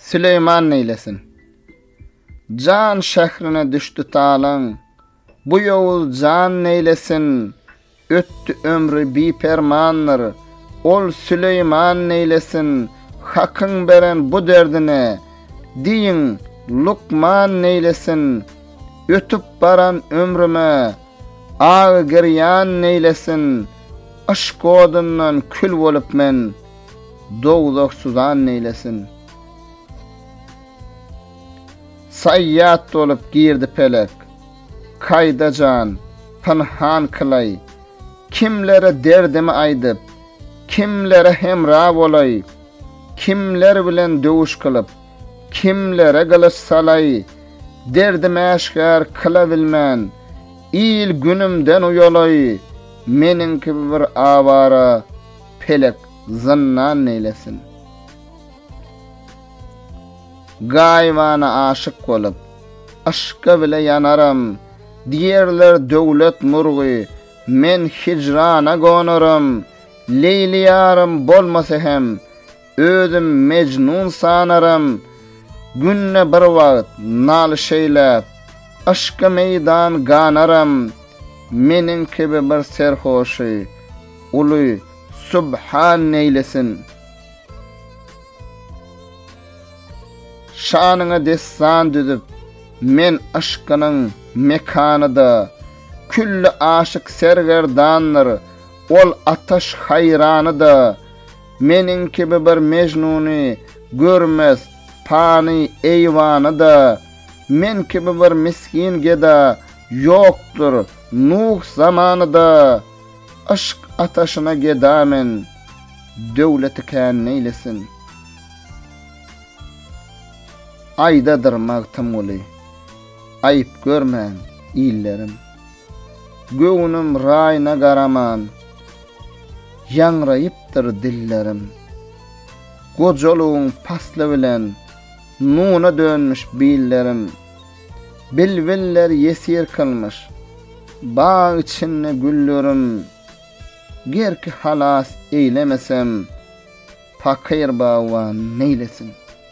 Süleýman neýlesin? Jan şährine düşdi talaň. Bu ýowuz jan neýlesin? Ötdi ömri bipermandyr. Ol Süleýman neýlesin? Hakyň beren bu derdine. Diýiň, lukman neýlesin? Ötüp baran ömrüme. Agy girýan neýlesin, Yşk odundan kül bolup men, Dowzah suzan neýlesin. Saýýat bolup girdi pelek, Kaýda jan, pynhan kylaý, Kimlere derdimi aýdyp, Kimlere hemra bolaý, Kimler bilen döwüş kylyp, Kimlere gylyç salaý, derdim äşgär kyla bilmän, il-günümden uýalaý, meniň kibi bir awara pelek zyndan neýlesin. Gaýybana aşyk bolup, yşka bile ýanaram, diýerler döwlet murgy, men hijrana gonaram, Leýli ýarym bolmasa hem, Özüm Mejnun sanaram, Günde bir wagt nalyş eýläp, Yşka meýdan ganaram, Meniň kibi bir serhoşy, Uly Subhan neýlesin. Şanyňa dessan düzüp, Men yşkynyň mekanyda, Külli aşyk sergerdandyr, Ol ataş haýranyda. Meniň kibi bir Mejnuny görmez pany eýwany-da, men kibi bir misgin geda ýokdur Nuh zamany-da, Yşk ataşyna geda men, döwleti kän neýlesin. Aýdadyr Magtymguly, aýyp görmäň, illerim! Göwnüm raýyna garaman, ýaňraýypdyr dillerim. Gojalygyň pasly bilen, nuna dönmüş billerim. Bilbiller ýesir kylmyş, bag içinde güllerim. Gerki halas eýlemesem, pakyr bagban neýlesin?